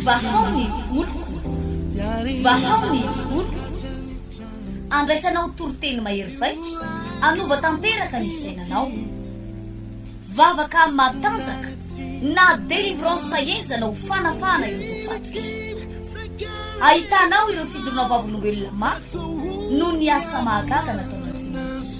Vahao ny oloko, vahao ny oloko, andraisanao toriteny mahery vaika, anova tanteraka ny fiainanao. Vavaka matanjaka na délivrance henjana ho fanafahana ireo voafatotra. Ahitanao ireo fijoroana vavolombelona mafy noho ny asa mahagaga nataon'Andriamanitra.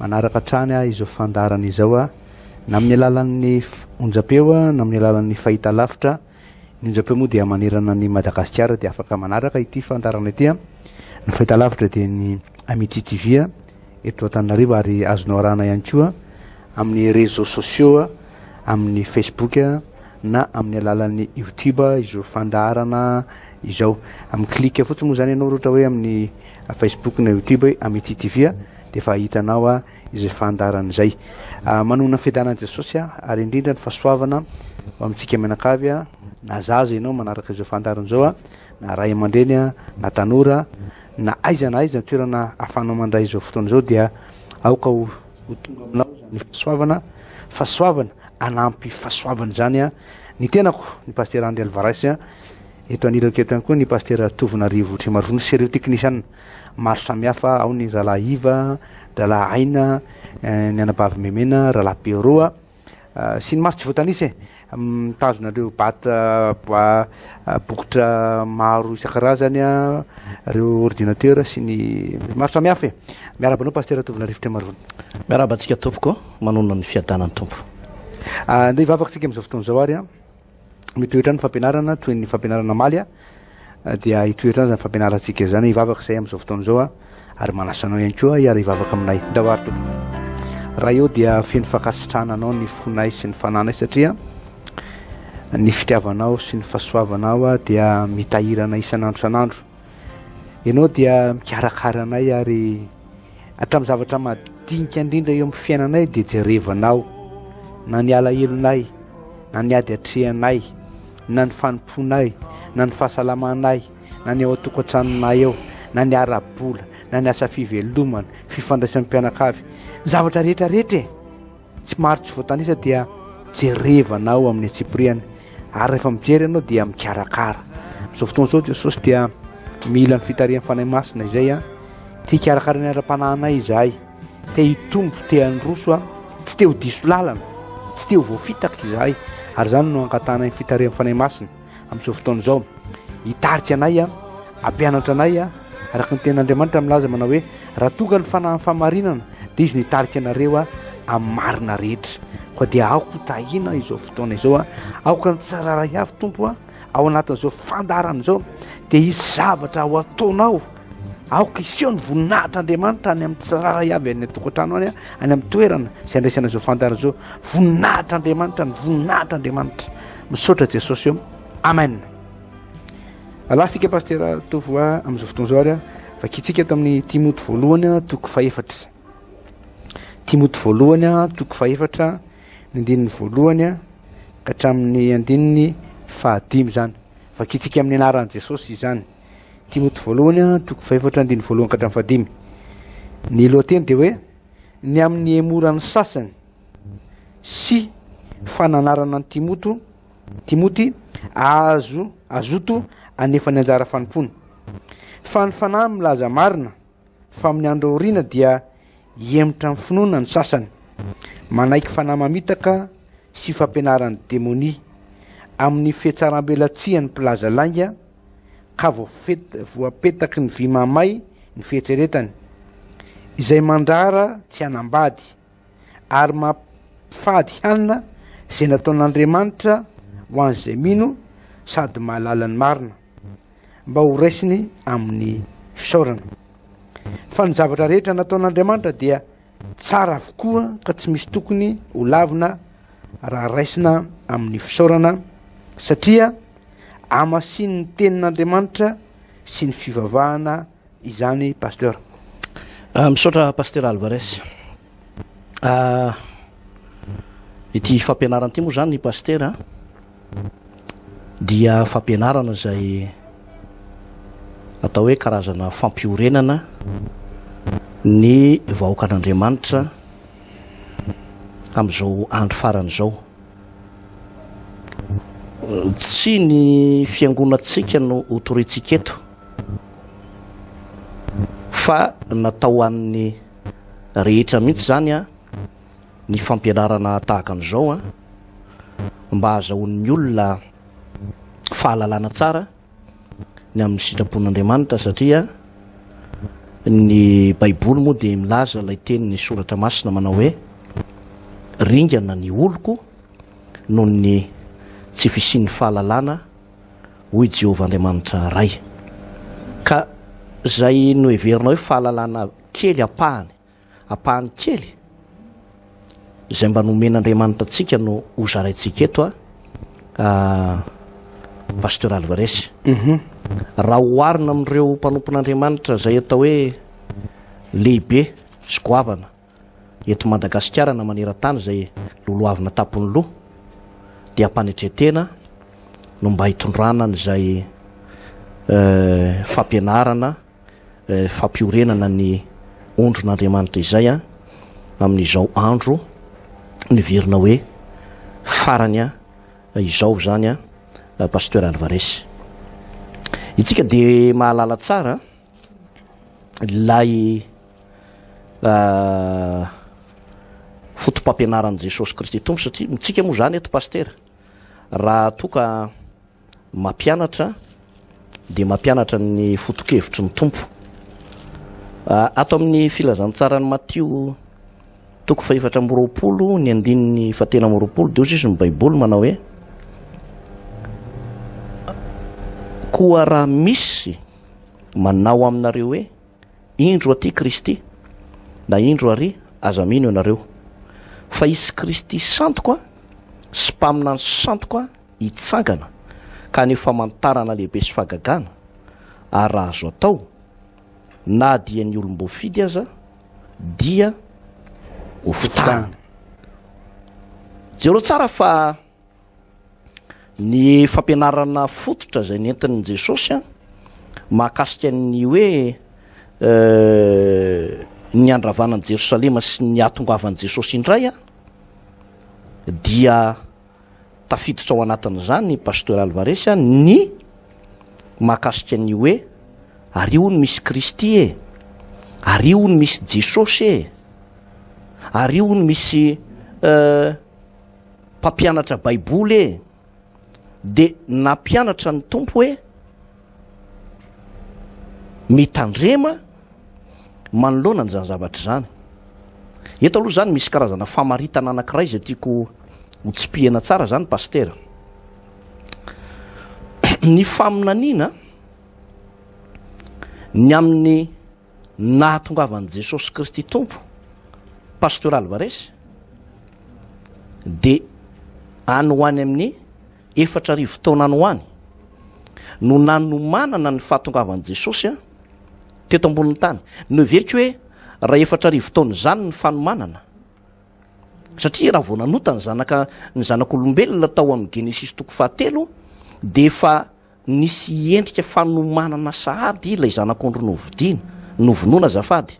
Manaraka hatrany aho izao fandaharana izao na amin'ny alalan'ny onjam-peo na amin'ny alalan'ny fahitalavitra. Ny onjam-peo moa dia manerana an'i Madagasikara dia afaka manaraka ity fandaharana ity. Ny fahitalavitra dia ny Amitié TV eto Antananarivo ary azonao arahana ihany koa amin'ny réseaux sociaux, amin'ny Facebook na amin'ny alalan'ny YouTube izao fandaharana izao. Amin'ny clic fotsiny moa izany ianao raha ohatra hoe amin'ny Facebook na YouTube hoe Amity TV a, dia efa ahitanao a izay fandaharana izay. Ah, manohana ny fiadanan'i Jesosy a, ary indrindra ny fahasoavana ho amintsika mianakavy a, na zaza ianao manaraka izao fandaharana izao a, na ray aman-dreny a, na tanora, na aiza na aiza ny toerana ahafahanao mandray izao fotoana izao dia aoka ho, ho tonga aminao izany fahasoavana, fahasoavana, hanampy fahasoavana izany a, ny tenako, ny Pasitera Andry Alvarez a, Eto anilako eto ihany koa ny Pastera Tovo Narivo Trimarivony sy ireo teknisiana maro samihafa, ao ny Rahalahy Iva, Rahalahy Aina, eh, ny Anabavy Memena, Rahalahy Pero ah, ah, sy ny maro tsy voatanisa e, mitazona ireo bata boa ah, bokotra maro isan-karazany, ireo ordinateur sy ny maro samihafa e. Miaraba anao Pastera Tovo Narivo Trimarivony. Miaraba antsika tompoko, manonona ny fiadanan'ny Tompo. Andeha hivavaka antsika amin'izao fotoana izao ary an. mitoetra ny fampianarana toy ny fampianarana amaly a dia hitoetra any zany fampianarantsika izany hivavaka izay amin'izao fotoana izao a ary manasa anao ihany koa hiara hivavaka aminay ndavary tompoko raha eo dia feno fankasitrahana anao ny fonay sy ny fananay satria ny fitiavanao sy ny fahasoavanao a dia mitahirana isan'andro san'andro Ianao dia mikarakara anay ary hatramin'ny zavatra madinika indrindra eo amin'ny fiainanay dia jerevanao na ny alahelonay na ny ady atrehanay na ny fanompoanay na ny fahasalamanay na ny ao an-tokantranonay eo na ny ara-bola na ny asa fivelomana fifandraisan'ny mpianakavy zavatra rehetrarehetra e Tsy maro tsy voatanisa dia jerevana ao amin'ny antsipiriany ary rehefa mijery ianao dia mikarakara. Amin'izao fotoana izao Jesosy dia mila ny fitarihan'ny Fanahy Masina izay a. Te hikarakara ny ara-panahinay izahay. Te hitombo, te handroso a. Tsy te ho diso lalana, tsy te ho voafitaka izahay. Ary izany no angatahana ny fitarihan'ny Fanahy Masina. amin'izao fotoana izao hitarika anay a ampianatra anay a araka ny tena andriamanitra milaza manao hoe raha tonga ny fanahin'ny famarinana dia izy no hitarika anareo a amin'ny marina rehetra koa dia aoko tahina izao fotoana izao a aoka ny tsararay avy tompo a ao anatin'izao fandarana izao dia hisy zavatra ho ataonao Aoka hiseho ny voninahitr'Andriamanitra any amin'ny tsirairay avy any an-tokantrano any, any amin'ny toerana izay andraisana izao fantara izao. Voninahitr'Andriamanitra ny voninahitr'Andriamanitra. Misaotra Jesosy eo. Amen. Alasika pastera Tovoa amin'izao fotoana izao ary vakintsika tamin'ny Timoty voalohany toko fahefatra. Timoty voalohany toko fahefatra ny andininy voalohany ka hatramin'ny andininy fahadimy izany. Vakintsika amin'ny anaran'i Jesosy izany. Timoty voalohany a, toko fahefatra andininy voalohany ka hatramin'ny fahadimy. Ny lohateny dia hoe ny amin'ny hemoran'ny sasany sy fananarana ny Timoto, Timoty azo azoto anefa ny anjara fanompoana. Fa ny fanahy milaza marina Fa amin'ny andro aoriana dia hihemotra amin'ny finoana ny sasany, manaiky fanahy mamitaka sy fampianaran'ny demonia, amin'ny fihatsarambelatsihan'ny mpilaza lainga, ka voapetaky ny vy mahamay ny fieritreretany, izay mandrara tsy hanambady, ary mampifady hanina izay nataon'Andriamanitra ho an'izay mino sady mahalala ny marina. mba ho raisiny amin'ny fisaorana. Fa ny zavatra rehetra nataon'Andriamanitra dia tsara avokoa ka tsy misy tokony ho lavina raha raisina amin'ny fisaorana satria amasinin'ny tenin'Andriamanitra sy ny fivavahana izany Pasteur. Misaotra Pasteur Alvarez. Ity fampianarana ity moa izany Pasteur dia fampianarana izay atao hoe karazana fampiorenana ny vahoakan'Andriamanitra amin'izao andro farany izao. Tsy ny fiangonantsika no hotorintsika eto. Fa natao ho an'ny rehetra mihitsy izany ny fampianarana tahaka an'izao mba hahazahoan'ny olona fahalalana tsara ny amin'ny sitrapon'Andriamanitra satria ny baiboly moa dia milaza ilay tenin'ny soratra masina manao hoe ringana ny oloko noho ny tsy fisian'ny fahalalana hoy i Jehovah Andriamanitra Ray, ka izay noheverinao hoe fahalalana kely ampahany, ampahany kely izay mba nomen'Andriamanitra antsika no hozaraintsika eto an, Pasteur Alvarez. Raha oharina amin'ireo mpanompon'Andriamanitra izay atao hoe lehibe sy goavana, eto Madagasikara na maneran-tany izay lolohavina tampon'ny loha dia am-panetren-tena no mba hitondrana an'izay fampianarana, fampiorenana ny ondrin'Andriamanitra izay amin'izao andro niverina hoe farany izao izany Pasteur Alvarez. Isika dia mahalala tsara ilay fotopampianaran'i Jesosy Kristy Tompo satria mitsika moa izany eto Pasitera raha toa ka mampianatra dia mampianatra ny fotokevitry ny Tompo ato amin'ny filazantsaran'i Matio toko fahefatra amby roapolo ny andininy fatena amby roapolo dia hozy izy ny Baiboly manao hoe koa raha misy manao aminareo hoe Indro aty Kristy, na indro ary aza mino ianareo, fa hisy Kristy santoko an, sy mpaminany santoko an hitsangana, ka haneho famantarana lehibe sy fahagagana, ary raha azo atao, na dia ny olom-boafidy aza dia ho fitahany. Jereo tsara fa. Ny fampianarana fototra izay nentin'i Jesosy mahakasika ny hoe ny handravana an'i Jerosalema sy ny hahatongavan'i Jesosy indray dia tafiditra ao anatin'izany Pasteur Alvarez ny mahakasika ny hoe ary hono misy Kristy e, ary hono misy Jesosy e, ary hono misy Mpampianatra baiboly ee. Dia nampianatra ny Tompo hoe mitandrema manoloana an'izany zavatra izany. Eto aloha izany misy karazana famaritana anankiray izay tiako ho tsipihina tsara izany Pasitera. Ny faminaniana ny amin'ny Ny nahatongavan'i Jesosy Kristy Tompo, Pasteur Alvarez, dia any ho any amin'ny efatra arivo taona any ho any no nanomanana ny fahatongavan'i Jesosy teto ambonin'ny tany. Noheveriko hoe raha efatra arivo taona izany ny fanomanana. Satria raha vao nanota ny zanaka ny zanak'olombelona tao amin'ny Genesisy toko fahatelo dia efa Nisy endrika fanomanana sahady ilay zanak'ondry novidiana, novonoina azafady.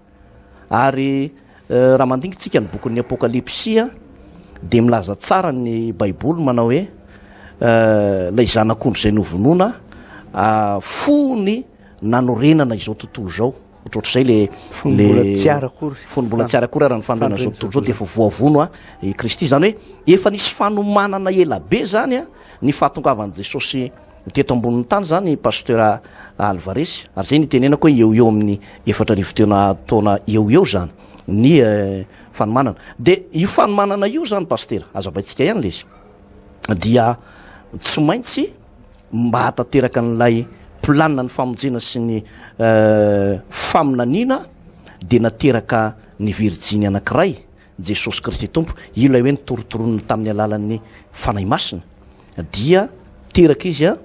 Ary raha mandingintsika ny bokin'ny Apokalypsia dia milaza tsara ny Baiboly manao hoe ilay zanak'ondry izay novonoina fony nanorenana izao tontolo izao. ohatrohatr'izay le fonimbola tsy ara akory fonimbola tsy ara akory ara ny fanorenana zao tontolo zao dia efa voavono a i kristy izany hoe efa nisy fanomanana ela be zany a ny fahatongavan'i jesosy teto ambonin'ny tany zany pasteur alvares ary zay nitenenako hoe eo eo amin'ny efatra arivo tena taona eo eo zany ny eh, fanomanana dia io fanomanana io zany pasteur aza baintsika ihany le izy dia tsy maintsy mba hahatanteraka an'ilay planina ny famonjena sy ny faminaniana dia nateraka ny virjiny anankiray Jesosy Kristy Tompo io ilay hoe nitorontoronina tamin'ny alalan'ny Fanahy Masina dia teraka izy a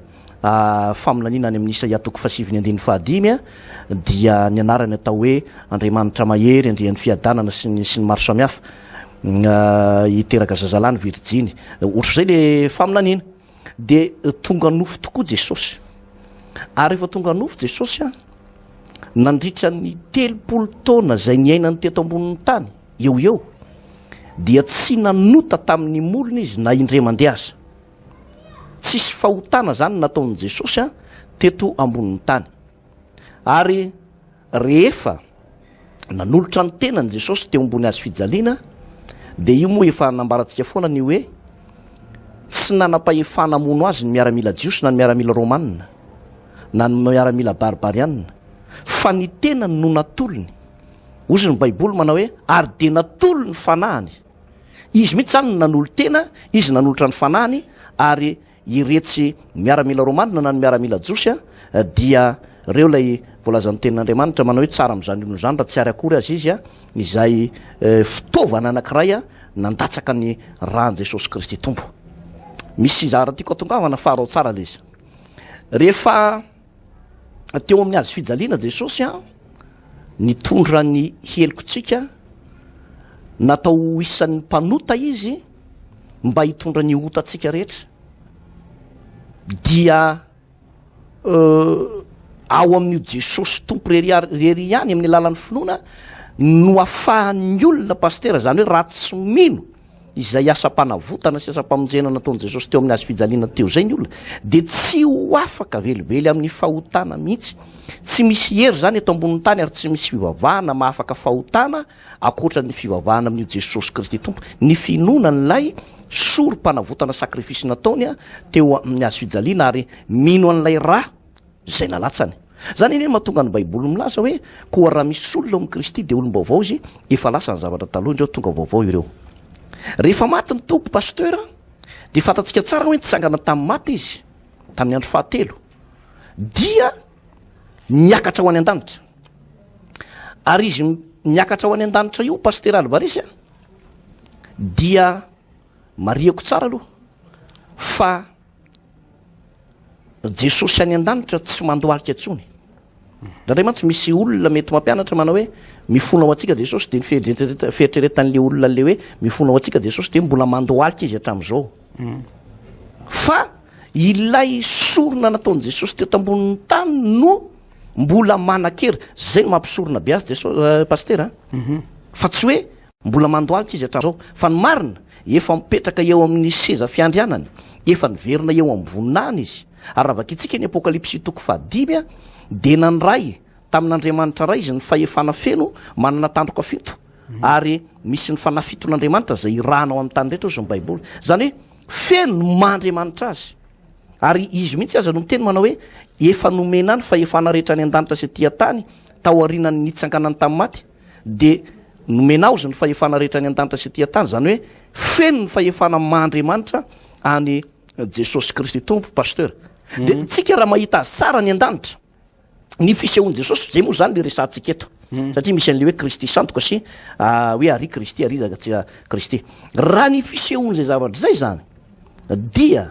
Ah, faminaniana any amin'ny isaia toko fasiviny andininy fahadimy a ah, dia ny anarany atao hoe andriamanitra mahery andrian'ny fiadanana sy ny sy ny maro samihafa mm, ah, hiteraka zazalahy ny virjiny ohatr'izay le faminaniana Dia tonga nofo tokoa Jesosy. Ary rehefa tonga nofo Jesosy, nandritra ny telopolo taona izay niainany teto ambonin'ny tany, eo eo, dia tsy nanota tamin'ny molony izy na indray mandeha aza. Tsisy fahotana izany nataon'i Jesosy teto ambonin'ny tany. Ary Rehefa nanolotra ny tenany Jesosy teo ambony hazo fijaliana, dia io moa efa nambarantsika foana ny hoe tsy nanam-pahefana hamono azy ny miaramila jiosy na ny miaramila romanina na ny miaramila barbarianina, fa ny tenany no natolony. Hozy ny Baiboly manao hoe, Ary dia natolo ny fanahiny. Izy mihitsy izany no nanolo-tena, izy nanolotra ny fanahiny, ary Iretsy miaramila romanina na ny miaramila jiosy dia reo ilay voalazan'ny tenin'Andriamanitra manao hoe tsara amin'izany olona izany raha tsy ary akory aza izy izay fitaovana anankiray nandatsaka ny ran'i Jesosy Kristy Tompo. Misy zara tiako atongavana fa arao tsara ilay izy. Rehefa teo amin'ny hazo fijaliana Jesosy a, nitondra ny helokontsika, natao ho isan'ny mpanota izy, mba hitondra ny otantsika rehetra dia ao amin'io jesosy tompo rery rery ihany amin'ny alalan'ny finoana no afahan'ny olona pastera zany hoe raha tsy mino izay asam-panavotana sy asam-pamonjena nataon'i jesosy teo amin'ny azy fijaliana teo zay ny olona dia tsy ho afaka velively amin'ny fahotana mihitsy tsy misy hery zany eto ambonin'ny tany ary tsy misy fivavahana mahafaka fahotana Ankoatra ny fivavahana amin'io Jesosy Kristy Tompo, ny finoana an'ilay Sorompanavotana sacrifice nataony teo amin'ny Hazo fijaliana ary mino an'ilay Ra izay nalatsany. Izany anie no mahatonga ny Baiboly milaza hoe, Koa raha misy olona ao amin'i Kristy dia olom-baovao izy, efa lasa ny zavatra taloha indreo, tonga vaovao ireo. Rehefa maty ny Tompo, Pasteur, dia fantatsika tsara hoe nitsangana tamin'ny maty Izy, tamin'ny andro fahatelo. Dia. miakatra ho any an-danitra ary izy miakatra ho any an-danitra io pastera albaresy a dia mariako tsara aloha fa jesosy any an-danitra tsy mandohalika ntsony ndraindray mantsy misy olona mety mampianatra manao hoe mifona ao antsika jesosy de ny fieritreretan'le olona le hoe mifona ao antsika jesosy de mbola mandohalika izy hatramin'izao fa Ilay sorona nataon'i Jesosy teto ambonin'ny tany no mbola manan-kery. Zay no mampisorona be azy Jeso- eh, Pasitera an. Mhm. Fa tsy hoe mbola mandohalika izy hatramin'izao. Fa ny marina, efa mipetraka eo amin'ny seza fiandrianany, efa niverina eo amin'ny voninahiny izy. Ary raha vakintsika ny Apokalypsy toko fahadimy an, dia nandray tamin'Andriamanitra Ray izy ny fahefana feno manana tandroka fito. Ary misy ny fanahy fiton'Andriamanitra izay irahana ao amin'ny tany rehetra, hoy izao ny Baiboly. Izany hoe, Feno ny maha Andriamanitra azy. Ary izy mihitsy aza no miteny manao hoe efa nomena ny fahefana rehetra any an-danitra sy aty an-tany tao aorianan'ny nitsanganany tamin'ny maty dia nomena aozy ny fahefana rehetra any an-danitra sy aty an-tany izany hoe feno ny fahefana maha Andriamanitra any Jesosy Kristy Tompo, pasteur. Dia tsika raha mahita azy tsara any an-danitra. ny fisehoan'i Jesosy zay moa zany le resahantsika eto hmm. satria misy an'le hoe Kristy sandoka sy ah, hoe ary Kristy ary izaka tsy ah, Kristy raha ny fisehoan'izay zavatra zay zany dia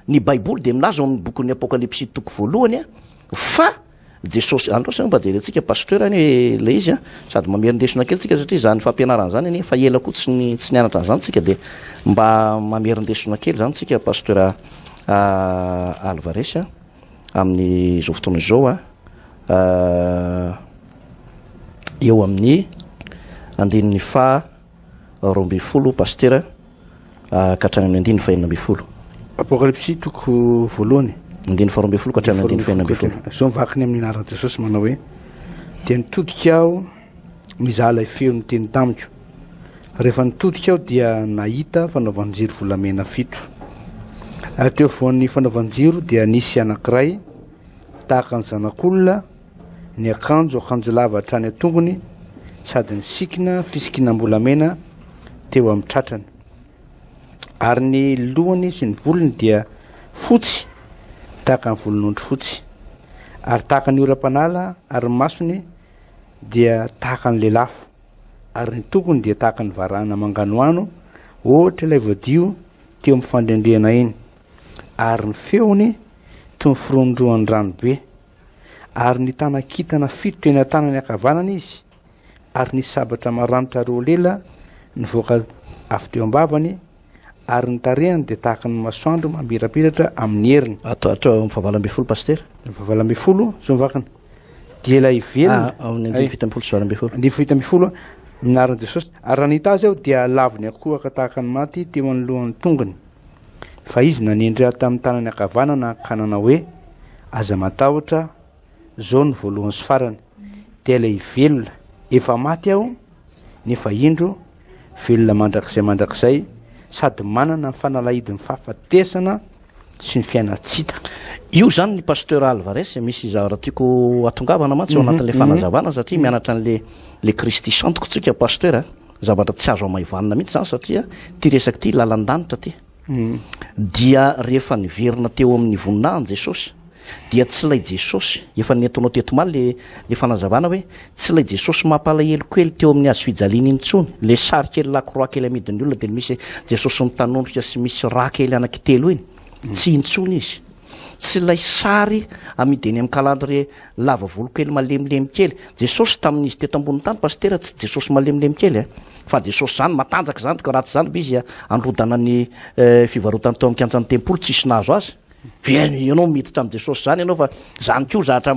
ny baiboly de milaza ao amin'ny bokin'ny apokalypsy toko voalohany a ah, fa Jesosy andro sy mba jerentsika pasteur any hoe le izy a sady mamerindesona kely tsika satria zany fampianarana zany anie fa ela koa tsy ny tsy nianatra an'izany tsika de mba mamerindesona kely zany tsika pasteur Alvarez a amin'izao fotoana izao an, eo amin'ny andininy faha roa ambin'ny folo pasitera ka hatrany amin'ny andininy fahenina ambin'ny folo. Apokalypsy toko voalohany. Andininy faha roa ambin'ny folo ka hatrany andininy fahenina ambin'ny folo. Izao ny vakiny amin'ny anaran'i Jesosy manao hoe dia nitodika aho. Nizaha ilay feo niteny tamiko. Rehefa nitodika aho dia nahita fanaovan-jiro volamena fito. Ary teo afovoan'ny fanaovan-jiro dia nisy anankiray, tahaka ny zanak'olona, niakanjo akanjo lava hatrany an-tongony sady nisikina fisikinam-bolamena teo amin'ny tratrany. Ary ny lohany sy ny volony dia fotsy tahaka ny volon'ondry fotsy, ary tahaka ny oram-panala, ary ny masony dia tahaka ny lelafo, ary ny tongony dia tahaka ny varahina manganohano, ohatra ilay voadio teo amin'ny fandrendrehana iny, ary ny feony toy ny firondrohan'ny rano be. Ary nitana kintana fito teny an-tanany ankavanana izy, ary nisy sabatra maranitra roa lela nivoaka avy teo am-bavany, ary ny tarehany dia tahaka ny masoandro mamirapiratra amin'ny heriny. Ato ato amin'ny fahavalo ambin'ny folo pasitera. Ny fahavalo ambin'ny folo zao ny vakana. Dia ilay velona. Ah, amin'ny andin'ny fito ambin'ny folo sy valo ambin'ny folo. Andin'ny fito ambin'ny folo minarin'i Jesosy. Ary raha nahita azy aho dia lavon'ny akohaka tahaka ny maty teo anoloan'ny tongony. Fa izy nanendry ahy tamin'ny tanany ankavanana ka nanao hoe, aza matahotra, zao ny voalohany sy farany. Dia ilay velona, efa maty aho, nefa indro Velona mandrakizay mandrakizay sady manana ny fanalahidin'ny fahafatesana sy ny fiainantsy ta. Io zany ny pasteur Alvarez misy zavatra tiako atongavana mantsy ao mhm, anatin'le mhm. fanazavana satria mhm. mianatra an'le le Kristy santoko tsika pasteur a. Zavatra tsy azo amaivanina mihitsy zany satria ty resaka ty lalan-danitra ty. Dia rehefa niverina teo amin'ny voninahiny Jesosy, dia tsy ilay Jesosy, efa nentinao teto omaly ilay ilay fanazavana hoe, tsy ilay Jesosy mampalahelo kely teo amin'ny hazo fijaliana iny intsony, ilay sary kely lakroa kely amidin'ny olona dia misy Jesosy mitanondrika sy misy rà kely anankitelo iny, tsy intsony izy. Tsy ilay sary amidy eny amin'ny calendrier lava volo kely malemilemy kely. Jesosy tamin'izy teto ambonin'ny tany Pasitera tsy Jesosy malemilemy kely a! Fa Jesosy izany matanjaka izany ka raha tsy izany ve izy handrodana ny fivarotany tao amin'ny kianjan'ny tempoly tsisy nahazo azy? Ve ianao miditra amin'i Jesosy izany ianao fa izany koa zahatra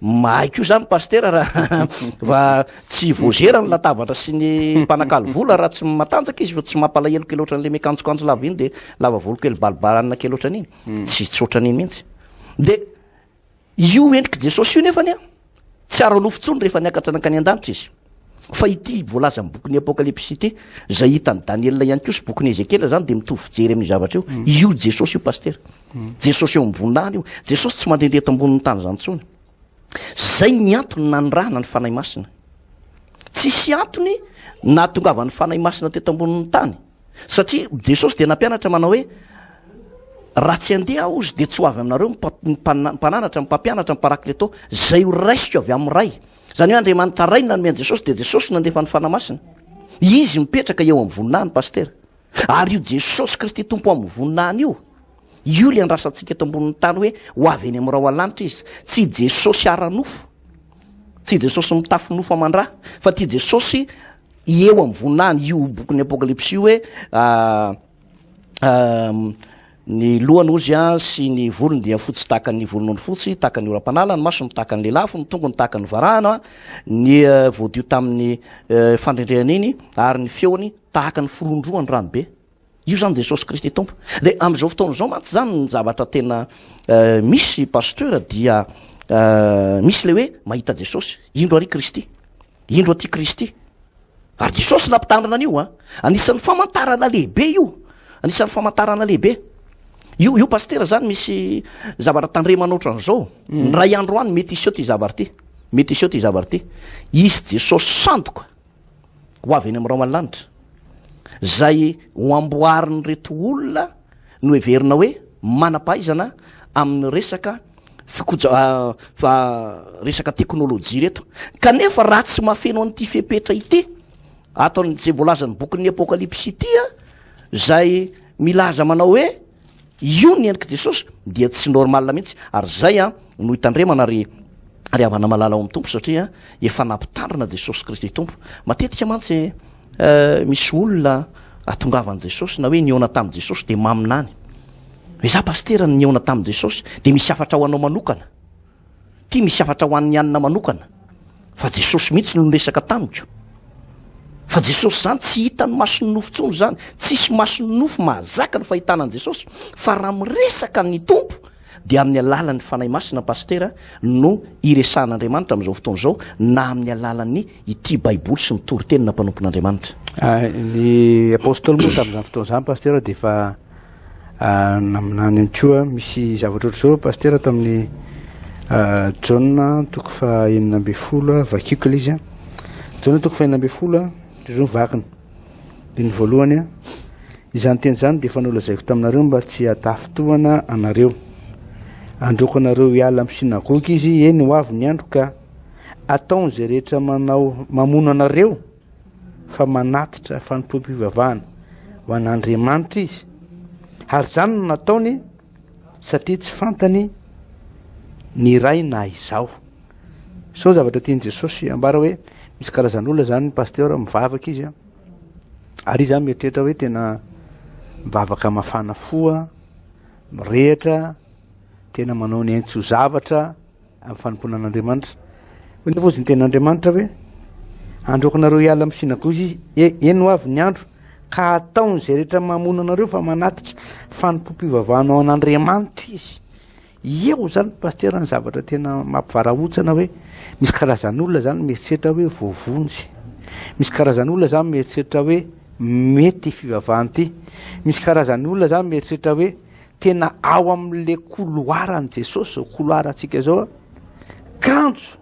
Mahay koa zany pastera raha raha tsy voazera ny latabatra sy ny mpanakalo vola raha tsy matanjaka izy fa tsy mampalahelo kely ohatran'le mikanjokanjo lava iny de lava volo kely balibalanina kely ohatran'iny hmm. tsy tsotra an'iny mihitsy de io endrik'i jesosy io nefany a tsy ara-nofo tsony rehefa niakatra nankany an-danitra izy Fa ity voalaza amin'ny bokin'ny Apokalypsy ity, izay hitan'i Daniela ihany koa sy bokin'i Ezekiela izany dia mitovy fijery amin'io zavatra io. Mm. Io Jesosy io, Pasitera. Mm. Jesosy eo amin'ny voninahiny io. Jesosy tsy mandehandeha eto ambonin'ny tany izany intsony. Izay ny antony nanirahana ny Fanahy Masina. Tsisy antony nahatongavan'ny Fanahy Masina teto ambonin'ny tany. Satria Jesosy dia nampianatra manao hoe raha tsy andeha aho izy dia tsy ho avy aminareo ny mpananatra ny mpampianatra ny parakleto izay ho raisiko avy amin'ny ray Izany hoe Andriamanitra Ray no nanome an'i Jesosy dia Jesosy no nandefa ny Fanahy Masina. Izy mipetraka eo amin'ny voninahiny, Pasitera. Ary io Jesosy Kristy Tompo amin'ny voninahiny io, io ilay andrasantsika eto ambonin'ny tany hoe ho avy eny amin'ny rahona lanitra izy. Tsy i Jesosy ara-nofo, tsy i Jesosy mitafy nofo aman-dra, fa ity Jesosy eo amin'ny voninahiny io bokin'ny Apokalypsy io hoe ah, Ny lohany ozy sy ny volony dia fotsy tahaka ny volon'ondry fotsy, tahaka ny oram-panala, ny masony tahaka ny lelafo, ny tongony tahaka ny varahana, ny eh, voadio tamin'ny eh, fandrendrehana iny, ary ny feony tahaka ny firondrohan'ny ranobe. Io zany Jesosy Kristy Tompo. Dia amin'izao fotoana izao mantsy zany ny zavatra tena eh, misy pasteur dia misy le hoe mahita Jesosy, indro ary Kristy, indro aty Kristy. Ary Jesosy nampitandrina an'io a! Anisan'ny famantarana lehibe io, anisan'ny famantarana lehibe. Io, io pasitera zany misy zavatra tandremana ohatran'izao. Mm. Ny ray andro any mety hiseho ty zavatra ty. Mety hiseho ty zavatra ty. Hisy Jesosy sandoka ho avy eny amin'ny rao an-lanitra. Zay ho amboarin'ireto olona no heverina hoe manam-pahaizana amin'ny resaka fikoja fa resaka teknolojia reto kanefa raha tsy mahafeno an'ity fepetra ity ataon'izay voalazan'ny bokin'ny apokalypsy ity a zay milaza manao hoe io ny endrik'i jesosy dia tsy normal mihitsy ary zay a no hitandremana ry ry havana malala ao amin'ny tompo satria efa nampitandrina jesosy kristy tompo matetika mantsy Misy olona atongavan'i Jesosy na hoe nihaona tamin'i Jesosy dia maminany. Hoe za pasitera no nihaona tamin'i Jesosy dia misy hafatra ho anao manokana. Ty misy hafatra ho an'ny anina manokana. Fa Jesosy mihitsy no niresaka tamiko. Fa Jesosy izany tsy hitan'ny mason'ny nofo intsony izany. Tsisy mason'ny nofo mahazaka ny fahitana an'i Jesosy. Fa raha miresaka ny Tompo Dia amin'ny alalan'ny Fanahy Masina Pasitera no iresahan'Andriamanitra amin'izao fotoana izao na amin'ny alalan'ny ity Baiboly sy ny Toriteny na Mpanompon'Andriamanitra. Ah, ny Apostoly moa tamin'izany fotoana izany Pasitera dia efa ah, naminany ihany koa misy zavatra ohatr'izao Pasitera tamin'ny ah, Jaona toko faha enina ambin'ny folo, vakiako ilay izy an. Jaona toko faha enina ambin'ny folo, toy izao ny vakiny. Andininy voalohany, Izany teny izany dia efa nolazaiko taminareo mba tsy hatafintohana anareo. Handroaka anareo hiala amin'ny synagoga izy, eny ho avy ny andro ka ataony izay rehetra manao mamono anareo fa manatitra fanompoam-pivavahana ho an'Andriamanitra izy. Ary izany no nataony satria tsy fantany ny iray na izaho. Zao zavatra tian'i Jesosy ambara hoe misy karazan'olona zany ny pasteur mivavaka izy an. Ary izy zany mieritreritra hoe tena mivavaka mafana fo an, mirehitra, tena manao ny ainy tsy ho zavatra amin'ny fanompoana an'Andriamanitra. Hoe nefa ozy ny ten'Andriamanitra hoe androako nareo hiala amin'ny synagogy izy, e, eny ho avy ny andro ka ataon'izay rehetra mamono anareo fa manatika fanompoam-pivavahana ao an'Andriamanitra izy. Eo izany Pasitera ny zavatra tena mampivarahontsana hoe misy karazan'olona izany mieritreritra hoe voavonjy. Misy karazan'olona izany mieritreritra hoe mety ity fivavahana ity. Misy karazan'olona izany mieritreritra hoe tena ao amin'ilay koloaran'i Jesosy izao, koloarantsika izao, kanjo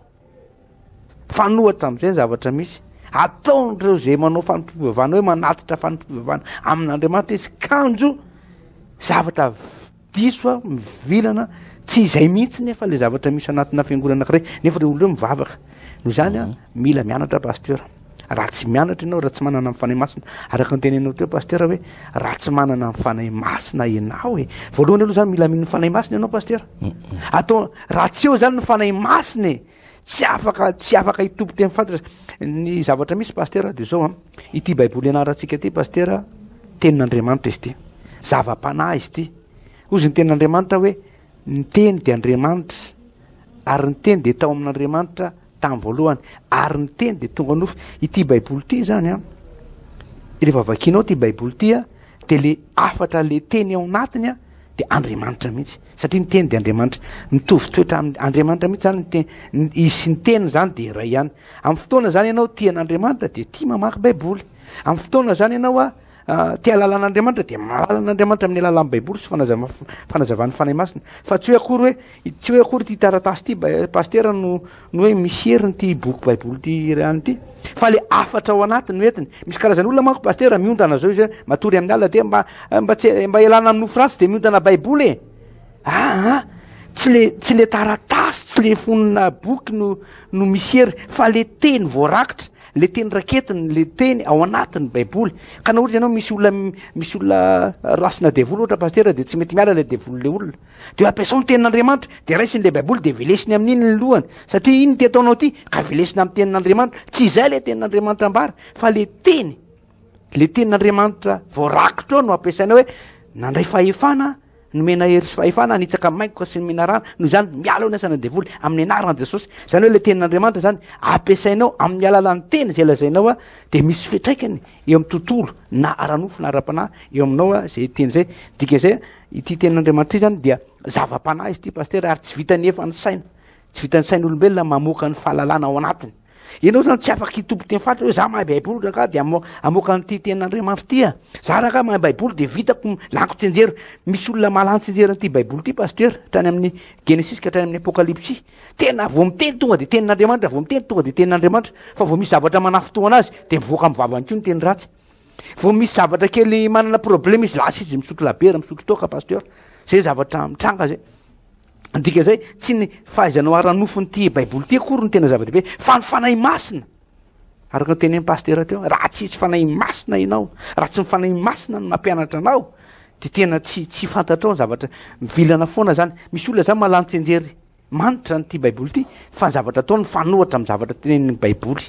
Mifanohitra amin'izay ny zavatra misy. Ataon'ireo izay manao fanompoam-pivavahana hoe manatitra fanompoam-pivavahana amin'Andriamanitra izy kanjo zavatra diso a, mivilana, tsy izay mihitsy nefa ilay zavatra misy anatina fiangonana anankiray, nefa ireo olona ireo mivavaka. Noho izany a, mila mianatra Pasteur. Raha tsy mianatra ianao, raha tsy manana ny Fanahy Masina, araka ny tenenao teo Pasteur hoe raha tsy manana ny Fanahy Masina ianao e. Voalohany aloha zany mila mino Fanahy Masina ianao Pasteur. Atao raha tsy eo zany ny Fanahy Masina e. Tsy afaka tsy afaka hitompo teny fantatra ny zavatra misy Pasteur de zao a. Ity Baiboly ianarantsika ity Pasteur tenin'Andriamanitra izy ity. Zava-panahy izy ity. Hozy ny tenin'Andriamanitra hoe ny teny dia Andriamanitra ary ny teny dia tao amin'Andriamanitra Tamin'ny voalohany, ary ny Teny dia tonga nofo. Ity Baiboly ity izany an, rehefa vakianao ity Baiboly ity an, dia le hafatra le Teny ao anatiny an, dia Andriamanitra mihitsy. Satria ny Teny dia Andriamanitra. Mitovy toetra amin'ny Andriamanitra mihitsy izany ny Teny. Ny- Izy sy ny Teny izany dia iray ihany. Amin'ny fotoana izany ianao tia an'Andriamanitra dia tia mamaky Baiboly. Amin'ny fotoana izany ianao an, Ah, te halalana andriamanitra de mahalala an'andriamanitra amin'ny alalan'ny baiboly sy fanazava- f- fanazavan'ny fanahy masina fa tsy hoe akory hoe i- tsy hoe akory ty taratasy ty ba- pastera no no hoe misy heriny ty boky baiboly ty irany ty fa le afatra ao anatiny no entiny misy karazana olona manko pastera miondana zao izy hoe matory amin'ny alina de mba eh, mba tsy mba elana amin'ny nofo ratsy de miondana baiboly e aa ah, tsy le tsy le taratasy tsy le fonina boky no no misy hery fa le teny voarakitra le teny raketiny le teny ao anatiny baiboly ka na ohatra ianao misy olona misy olona rasina devoly ohatra pastera de tsy mety miala le devoly le olona de ampiasao ny tenin'andriamanitra de raisiny le baiboly de velesiny amin'iny ny lohany satria iny ty ataonao ty ka velesina amin'ny tenin'andriamanitra tsy izay le tenin'andriamanitra ambara fa le teny le tenin'andriamanitra voarakitra ao no ampiasaina hoe nandray fahefana Nomena hery sy fahefana hanitsaka ny maingoka sy ny menarana. Noho izany, miala eo ny asan'ny devoly amin'ny anaran'i Jesosy. Izany hoe ilay tenin'Andriamanitra izany ampiasainao amin'ny alalan'ny teny izay lazainao a, dia misy fitraikany eo amin'ny tontolo na ara-nofo na ara-panahy eo aminao a, izay teny izay. Dika izay ity tenin'Andriamanitra izany dia zava-panahy izy ity pasitera ary tsy vitan'ny efa ny saina. Tsy vitan'ny sain'olombelona mamoaka ny fahalalana ao anatiny. Ianao zany tsy afaka hitompo teny faritra hoe za mahay baiboly rangah de amoaka an'ity tenin'Andriamanitra ity a. Za rangah mahay baiboly de vitako laniko tsenjera. Misy olona mahalany tsenjera an'ity baiboly ity pasteur, trany amin'ny Genesis ka trany amin'ny Apokalypsy. Tena vao miteny tonga de tenin'Andriamanitra, vao miteny tonga de tenin'Andriamanitra. Fa vao misy zavatra manafintohana azy de mivoaka amin'ny vavany koa ny teny ratsy. Vao misy zavatra kely manana problème izy lasa izy misotro labiera, misotro toaka pasteur. Zay zavatra mitranga zay. dika zay tsy ny fahaizanao ara-nofo ny ti baiboly ty akory ny tena zava-dehibe fa ny fanahy masina araka ny tene pastera teo raha tsisy fanahy masina ianao raha tsy mifanahy masina no mampianatra anao de tena tsy tsy fantatrao ny zavatra mivilana foana zany misy olona zany malantsenjery manitra nyity baiboly ity fa ny zavatra atao ny fanohatra ami'ny zavatra tenenny baiboly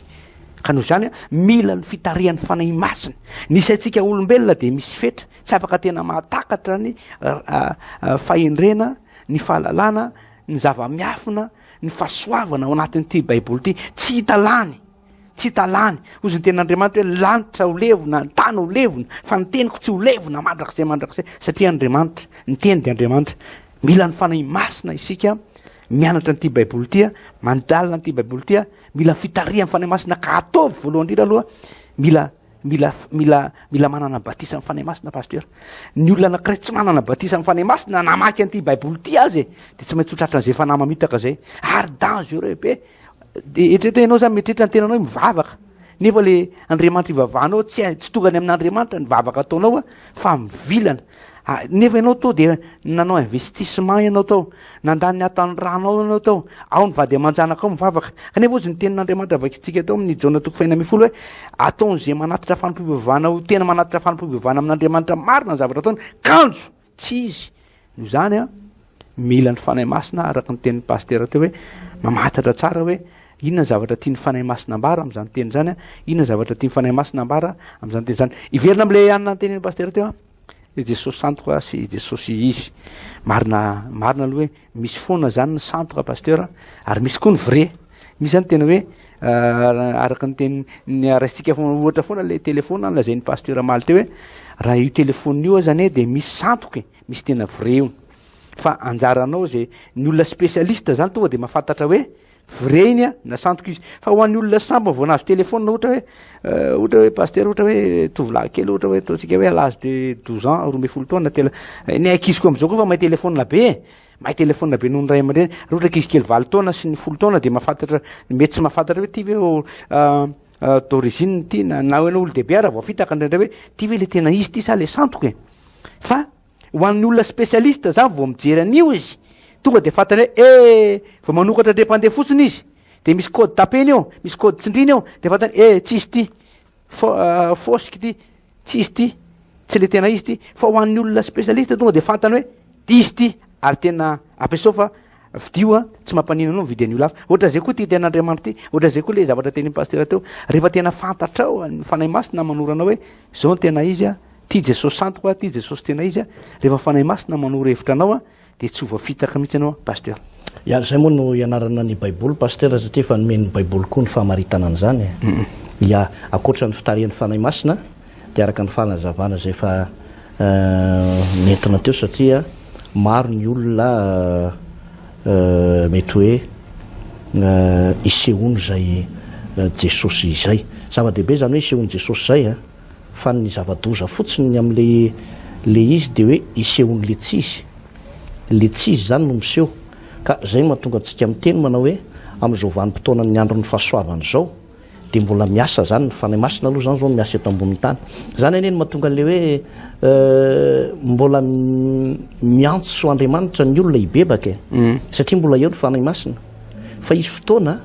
ka noho zany a mila ny fitarihan'ny fanahy masina ny saintsika olombelona de misy fetra Tsy afaka tena mahatakatra ny fahendrena, ny fahalalana, ny zava-miafina, ny fahasoavana ao anatin'ity baiboly ity tsy hita lany tsy hita lany ozy ny ten'andriamanitra hoe lanitra ho levona ny tany ho levona fa ny teniko tsy ho levona mandrakizay mandrakizay satria andriamanitra ny teny dia andriamanitra mila ny fanahy masina isika mianatra an'ity baiboly itya mandalina an'ity baiboly itya mila fitarihan'ny fanahy masina ka ataovy voalohany indrindra aloha mila Mila mila mila manana batisa amin'ny Fanahy Masina pasteur. Ny olona anankiray tsy manana batisa amin'ny Fanahy Masina namaky an'ity Baiboly ity azy e, dia tsy maintsy ho tratra an'izay fanahy mamitaka izay. Ary dangereux be. Dia eritrereto ianao zany mieritreritra ny tenanao hoe mivavaka. Nefa le Andriamanitra ivavahanao tsy tsy tonga any amin'Andriamanitra ny vavaka ataonao fa mivilana. Ah, nefa ianao to dia nanao investissement ianao tao nandany ny atan'ny ranao ianao tao ao ny vady aman-janakao mivavaka kanefa ozy ny tenin'andriamanitra vakintsika tao amin'ny jona toko faina mifolo hoe ataon'izay manatitra fanompoivavana ho tena manatitra fanompoivavana amin'andriamanitra marina ny zavatra ataony kanjo tsy izy no izany a Mila ny Fanahy Masina araka ny tenin'ny Pasitera teo hoe mamatatra tsara hoe inona ny zavatra tian'ny Fanahy Masina ambara amin'izany teny izany, inona ny zavatra tian'ny Fanahy Masina ambara amin'izany teny izany. Hiverina amin'ilay anona tenin'ny Pasitera teo i Jesosy santo ka sy i Jesosy izy. Marina marina aloha hoe misy foana izany ny santo ka Pasitera ary misy koa ny vrai. Misy izany tena hoe euh, araka ny teny ny araistika foana ohatra foana ilay telefona nilazain'ny Pasitera Maly teo hoe raha io telefona io azany dia misy santoka e. Misy tena vrai io. Fa anjaranao ze ny olona spécialiste zany tonga de mahafantatra hoe vrai iny a na sandoka izy. Fa ho an'ny olona sambany vao nahazo téléphone ohatra hoe euh, ohatra hoe pasteur ohatra hoe tovolahy kely ohatra hoe ataontsika hoe à l'âge de 12 ans, roa ambin'ny folo taona telo. Eh, ny ankizy koa am'zao koa fa mahay téléphone be e. Mahay téléphone be noho ny ray aman-dreny. Raha ohatra ankizy kely valo taona sy ny folo taona de mahafantatra mety tsy mahafantatra hoe ty ve oh, euh, d'origine ity na na hoe olon-dehibe ara vao fitaka ndraindray hoe ty ve le tena izy ty sa le santoka e fa ho an'ny olona spécialiste za vao mijery an'io izy tonga de fantany hoe e vao manokatra dre mpandeha fotsiny izy de misy code tapeny eo misy code tsindriny eo de fantany e tsisy ty fo- fosika ity tsy izy ty tsy le tena izy ty fa ho an'ny olona spécialiste tonga de fantany hoe izy ty ary tena ampiasao fa vidio a tsy mampanina anao mividy an'io lafa ohatra zay koa ty tena andriamanitro ty ohatra zay koa le zavatra teny pasitera teo rehefa tena fantatrao ny fanahy masina manora anao hoe zao ny tena izy a ty jesosy santo koa ty jesosy tena izy a rehefa fanahy masina manoro hevitra anao a Dia tsy ho voafitaka mihitsy ianao Pasteur. Ary izay moa no ianarana ny baiboly Pasteur satria efa nomen'ny baiboly koa ny famaritana an'izany e. Ia, ankoatra ny fitarihan'ny Fanahy Masina dia araka ny fanazavana izay efa nentina teo satria maro ny olona mety hoe isehoany izay Jesosy izay. Zava-dehibe izany hoe isehoan'i Jesosy izay e. fa ny zava-doza fotsiny ny amin'le le izy dia hoe isehoan'le tsy izy, le tsy izy izany no miseho, ka izay no mahatonga antsika miteny manao hoe amin'izao vanim-potoanan'ny andron'ny fahasoavana izao dia mbola miasa izany ny Fanahy Masina aloha izany izao no miasa eto ambonin'ny tany, izany anie no mahatonga an'le hoe mbola miantso Andriamanitra ny olona hibebaka e! satria mbola eo ny Fanahy Masina, fa hisy fotoana.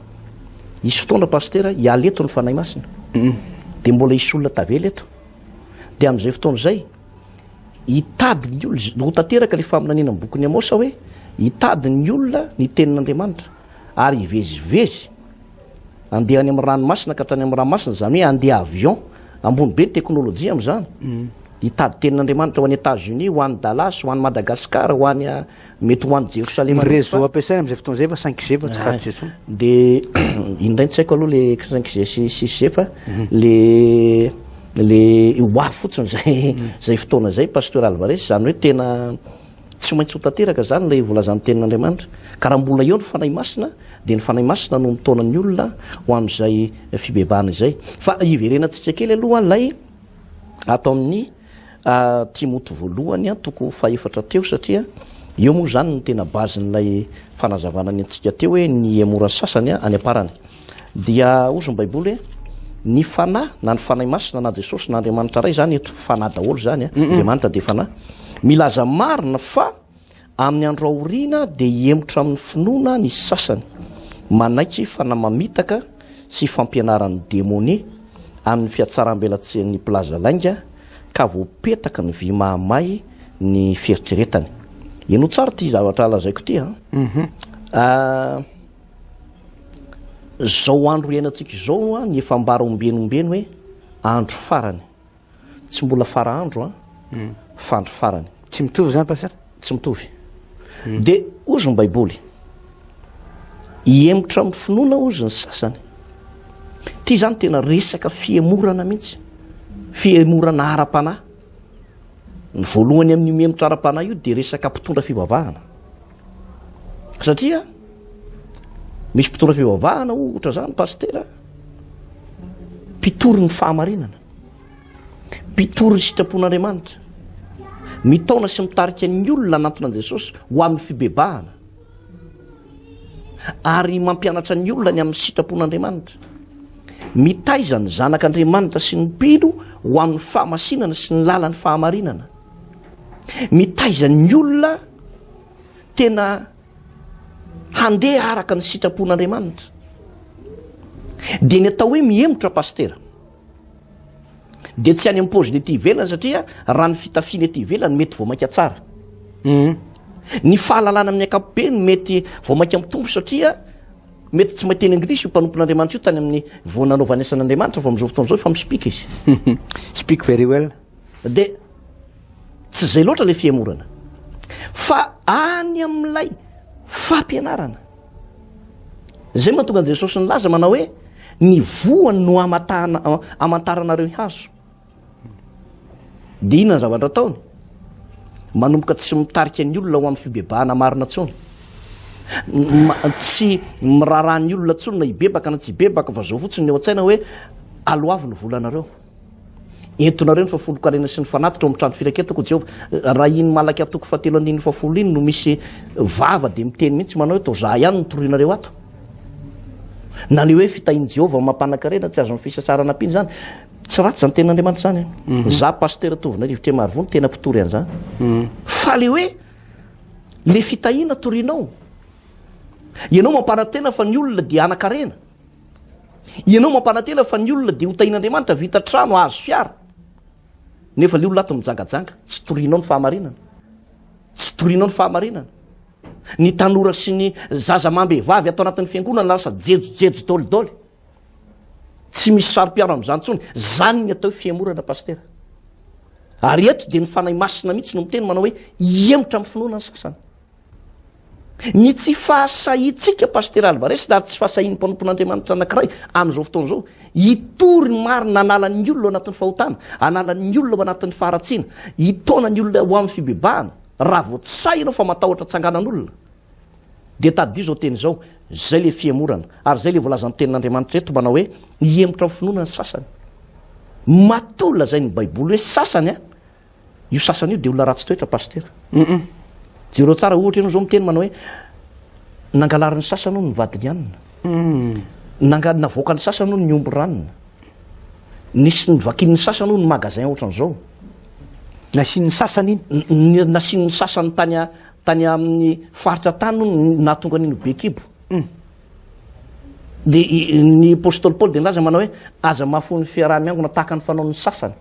Hisy fotoana Pasitera hiala eto ny Fanahy Masina dia mbola hisy olona tavela eto dia amin'izay fotoana izay hitady ny olona ho tanteraka ilay faminaniana amin'ny bokin'ny Amosa hoe hitady ny olona ny tenin'Andriamanitra ary hivezivezy andeha any amin'ny ranomasina ka tany amin'ny ranomasina izany hoe andeha avion ambony be ny teknolojia amin'izany hitady tenin'Andriamanitra ho any États-Unis ho any Dallas ho any Madagascar ho any Mety ho any Jerosalema. Ny réseau ampiasaina amin'izay fotoana izay fa 5G fa tsy 4G intsony. Dia iny indray no tsy haiko aloha le 5G sy 6G fa mhm. le le ho avy fotsiny zay mhm. zay fotoana zay pasteur Alvarez izany hoe tena tsy maintsy ho tanteraka izany ilay volazan'ny tenin'Andriamanitra ka raha mbola eo ny fanahy masina dia ny fanahy masina no mitaona ny olona ho amin'izay fibebahana izay fa hiverenantsika kely aloha ilay ataon'ny A, Timoty voalohany an-toko fahefatra teo, satria eo moa izany no tena base-n'ilay fanazavana ny antsika teo hoe ny emora sasany any am-parany. Dia hozy ny Baiboly hoe, Ny Fanahy, na ny Fanahy Masina, na Jesosy, na Andriamanitra Ray, izany eto Fanahy daholo izany, Andriamanitra dia Fanahy, milaza marina fa Amin'ny andro aoriana dia hihemotra amin'ny finoana ny sasany, manaiky fanahy mamitaka sy fampianaran'ny demonia amin'ny fiatsarambelatsihin'ny mpilaza lainga ka voapetaky ny vy mahamay ny fieritreretany. Inoa tsara ity zavatra lazaiko ity a. Mhm. Ah, zao andro iainantsika izao a, ny efa ambara ombieny ombieny hoe andro farany. Tsy mbola fara andro an, fa andro farany. Tsy mitovy izany Pasteur? Tsy mitovy. Dia hozy ny Baiboly, hihemotra amin'ny finoana hozy ny sasany. Ity izany tena resaka fihemorana mihitsy, fihemorana ara-panahy. Ny voalohany amin'io mihemotra ara-panahy io dia resaka mpitondra fivavahana. Satria misy mpitondra fivavahana ohatra izany Pasteur, mpitory ny fahamarinana. Mpitory ny sitrapon'Andriamanitra. Mitaona sy mitarika ny olona hanantona an'i Jesosy ho amin'ny fibebahana. Ary mampianatra ny olona ny amin'ny sitrapon'Andriamanitra. Mitaiza ny zanak'Andriamanitra sy ny mpino ho amin'ny fahamasinana sy ny lalan'ny fahamarinana. Mitaiza ny olona tena handeha araka ny sitrapon'Andriamanitra. Dia ny atao hoe mihemotra pastera. Dia tsy any amin'ny paoziny ety ivelany satria raha ny fitafiana ety ivelany mety vao mainka tsara. Hum. Ny fahalalana amin'ny ankapobeny mety vao mainka mitombo satria mety tsy maiteny anglisy io mpanompon'Andriamanitra io tany amin'ny vao nanaovany asan'Andriamanitra fa amin'izao fotoana izao efa mi-speak izy. Speak very well. Dia tsy izay loatra ilay fihemorana fa any amin'ilay fampianarana. Izay mahatonga an'i Jesosy nilaza manao hoe ny voany no amantaranareo ny hazo. Dia inona ny zavatra ataony? Manomboka tsy mitarika ny olona ho amin'ny fibebahana marina tsony. Tsy miraharaha ny olona tsony na hibebaka na tsy hibebaka fa zao fotsiny ny eo an-tsaina hoe aloavy ny volanareo. Entonareo ny fahafolon-karena sy ny fanatitra ao amin'ny trano firaketako, Jehovah. Raha iny Malaki atoko fahatelo andininy fahafolo iny no misy vava dia miteny mihitsy manao hoe, Toa izaho ihany no toroinareo ato. Na ny hoe fitahian'i Jehovah mampanankarena, tsy azon'ny fisasarana ampiana izany. Tsy ratsy izany tenin'Andriamanitra izany. Eh. Izaho, Pasitera Tovinay Rivotra Marivony, tena mpitory an'izany. Hmm. Fa ilay hoe, ilay fitahiana torianao, ianao mampanantena fa ny olona dia hanankarena. Ianao mampanantena fa ny olona dia ho tahin'Andriamanitra hahavita trano, hahazo fiara. Nefa ilay olona ato mijangajanga, tsy torianao ny fahamarinana. Tsy torianao ny fahamarinana. Ny tanora sy ny zaza amam-behivavy ato anatin'ny fiangonana lasa jejojejo dolidoly. Tsy misy saro-piaro amin'izany intsony. Izany ny atao fihemorana, pastera. Ary eto dia ny Fanahy Masina mihitsy no miteny manao hoe hihemotra amin'ny finoana ny sasany. Ny tsy fahasahiantsika, Pasitera Alvarez, ary tsy fahasahian'ny mpanompon'Andriamanitra anankiray amin'izao fotoana izao, hitory ny marina hanala ny olona ao anatin'ny fahotana, hanala ny olona ao anatin'ny faharatsiana, hitaona ny olona ho amin'ny fibebahana, raha vao tsy sahy ianao fa matahotra tsanganan'olona, dia tadidio izao teny izao, izay ilay fihemorana, ary izay ilay voalazan'ny Tenin'Andriamanitra eto manao hoe, Hihemotra amin'ny finoana ny sasany. Matoa lazain'ny Baiboly hoe sasany an! Io sasany io dia olona ratsy toetra Pasitera. Humm. Jereo tsara ohatra ianao izao miteny manao hoe nangalarin'ny sasany hono ny vadiny hanina. Humm. Nanga, navoakan'ny sasany hono ny omby ranona. Nisy nivakin'ny sasany hono ny magasin ohatran'izao. Nasian'ny sasany iny. Nasian'ny sasany tany a, tany amin'ny faritra tany hono ny nahatonga an'iny ho be kibo. Humm. Dia ny Apostoly Paoly dia nilaza manao hoe aza mahafoy ny fiaraha-miangona tahaka ny fanaon'ny sasany.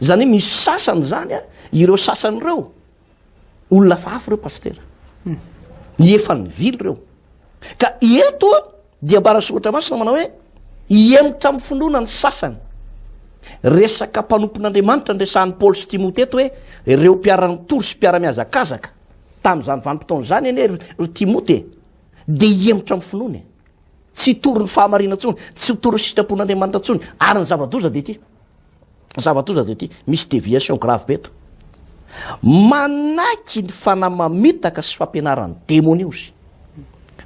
Izany hoe misy sasany izany a, ireo sasany ireo, olona hafa hafa ireo pasitera. Ny efa nivily ireo. Ka eto a, dia ambara soratra masina manao hoe, hihemotra amin'ny finoana ny sasany. Resaka mpanompon'Andriamanitra ny resahan'i Paoly sy Timote eto hoe, ireo mpiara-nitory sy mpiara-mihazakazaka. Tamin'izany vanim-potoana izany anie ry, ry Timote e. Dia hihemotra amin'ny finoana e. Tsy hitory ny fahamarinana intsony, tsy hitory ny sitrapon'Andriamanitra intsony, ary ny zava-doza dia ity. Zava-doza dia ity, misy déviation grave be eto. Manaiky ny fanahy mamitaka sy fampianaran'ny demonia ozy.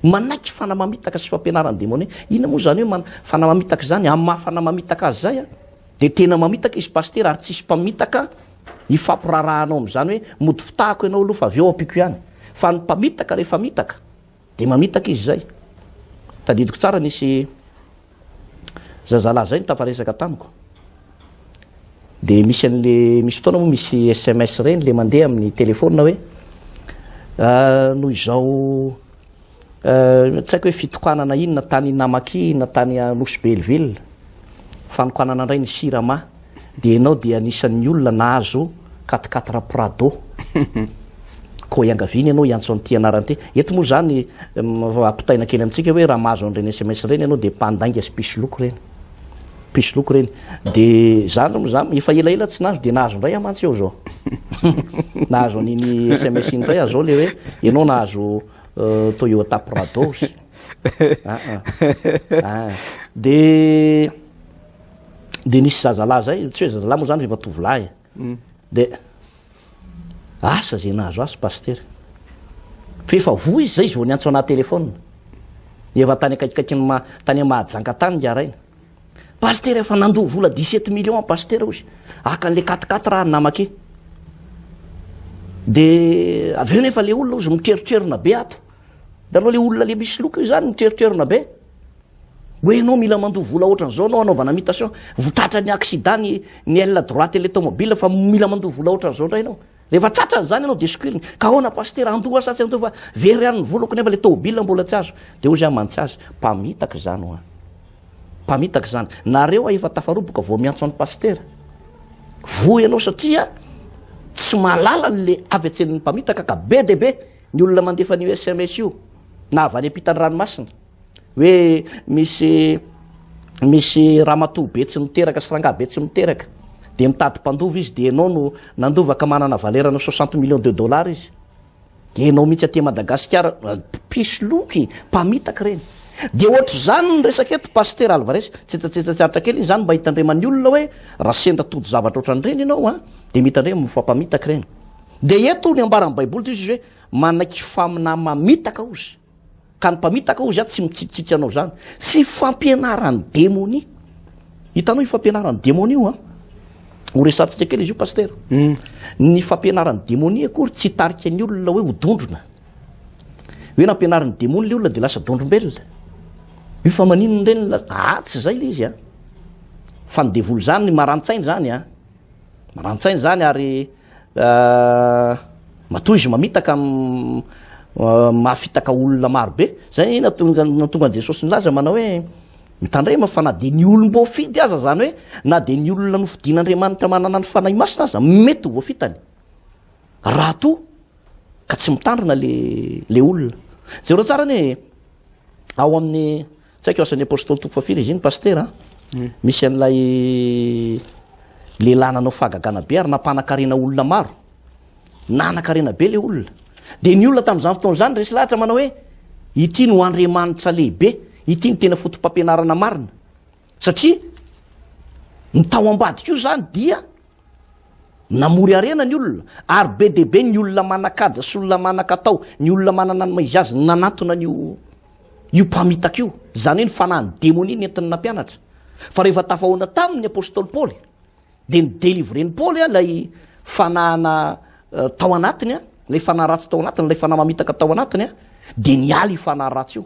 Manaiky fanahy mamitaka sy fampianaran'ny demonia. Inona moa izany hoe fanahy mamitaka izany? Amin'ny maha fanahy mamitaka azy izay, dia tena mamitaka izy pasitera ary tsisy mpamitaka hifampirarahanao amin'izany hoe mody fitahako ianao aloha fa avy eo ampiako ihany. Fa ny mpamitaka rehefa mitaka, Dia mamitaka izy izay. Tadidiko tsara nisy zazalahy izay nitafaresaka tamiko. Dia misy an'le misy fotoana moa misy SMS ireny le mandeha amin'ny téléphone hoe ah, noho izao eh, tsy haiko hoe fitokanana inona tany Namaki na tany Nosy Belleville, fanokanana indray ny Sirama. Dia ianao dia anisan'ny olona nahazo quatre quatre prado koa iangaviana ianao hiantso an'ity anarana ity. Eto moa izany ampitaina kely amintsika hoe raha mahazo an'ireny sms ireny ianao dia mpandainga sy mpisoloky ireny. Mpisoloky ireny. Dia izany moa izany efa elaela tsy nahazo dia nahazo indray aho mantsy eo izao. nahazo an'iny sms iny indray aho izao ilay hoe ianao nahazo euh, Toyota Prados. Ah, ah. ah. Dia dia nisy zazalahy zay tsy hoe zazalahy moa zany rehefa tovolahy e. mm. dia asa zay nahazo asy pastery fa efa voa izy zay izy vao niantso anaty telefona efa tany akaikikaiky ny ma tany mahajanga tany ngaraina pastery efa nandoa vola dix-sept millions pastery ozy akan'le katikaty raha ny namake dia avy eo nefa le olona ozy mitreritrerona be ato de aloha le olona le misy loka io zany mitreritrerona be Hoe ianao mila mandoa vola ohatran'izao anao anaovana mutation. Vo tratra ny accident ny ny aile droite ilay tomobile fa mila mandoa vola ohatran'izao indray ianao. Rehefa tratra an'izany ianao dia sokiriny. Ka ahoana pasitera, andoa sa tsy andoa fa very ihany ny volako nefa ilay tomobile mbola tsy azo. Dia hoy izy aho mantsy azy, mpamitaka izany hoa. Mpamitaka izany. Nareo hoa efa tafaroboka vao miantso an'i pasitera. Voa ianao satria tsy mahalala an'ilay avy an-tsenin'ny mpamitaka ka be dia be ny olona mandefa an'io sms io na avy any am-pitan'ny ranomasina. hoe misy misy ramatoa be tsy miteraka sy rangahy be tsy miteraka dia mitady mpandova izy dia ianao no nandova ka manana valerana soixante millions de dollars izy dia ianao mihitsy aty madagasikara pisoloky mpamitaka ireny dia ohatr'izany ny resaka eto pasitera alvarès tsetsatsetsatsiaritra kely izany mba hitandreman'ny olona hoe raha sendra tody zavatra ohatran'ireny ianao a dia mitandrema mifampamitaka ireny dia eto ny ambaran'ny baiboly dia izy hoe manaiky faminà mamitaka ozy Ka ny mpamitaka hozy aho tsy mitsitsitsy anao izany. Sy fampianaran'ny demonia. Hitanao io fampianaran'ny demonia io an? Ho resantsika kely izy io pasitera. Hmm. Ny fampianaran'ny demonia akory tsy hitarika ny olona hoe ho dondrona. Hoe nampianarin'ny demonia ilay olona dia lasa dondrombelona. Io fa maninona indray ny lasa? Ah, tsy izay ilay izy an. Fa ny devoly izany marantsaina izany an. Marantsaina izany ary Matoa izy mamitaka mahafitaka olona maro be. Izay ny nahatonga an'i Jesosy nilaza manao hoe mitandrema fa na dia ny olom-boafidy aza, izany hoe na dia ny olona nofidin'Andriamanitra manana ny fanahy masina aza mety ho voafitany raha toa ka tsy mitandrina le le olona. Jereo tsara anie ao amin'ny Tsy haiko asan'ny apostoly toko fahafiry izy iny pasitera a. Hmm. Misy an'ilay lehilahy nanao fahagagana be ary nampanakarena olona maro. Nanakarena be le olona. Dia ny olona tamin'izany fotoana izany resy lahatra manao hoe ity no andriamanitra lehibe, ity no tena fotom-pampianarana marina. Satria ny tao ambadika io izany dia Namory harena ny olona, ary be dia be ny olona manan-kaja sy olona manan-katao, ny olona manana ny maha izy azy no nanatona an'io io mpamitaka io, izany hoe ny fanahin'ny demonia nentiny nampianatra. Fa rehefa tafahoana taminy ny apostoly Paoly, dia ni-delivren'i Paoly ilay fanahana eh, tao anatiny, ilay fanahy ratsy tao anatiny, ilay fanahy mamitaka tao anatiny, dia niala io fanahy ratsy io.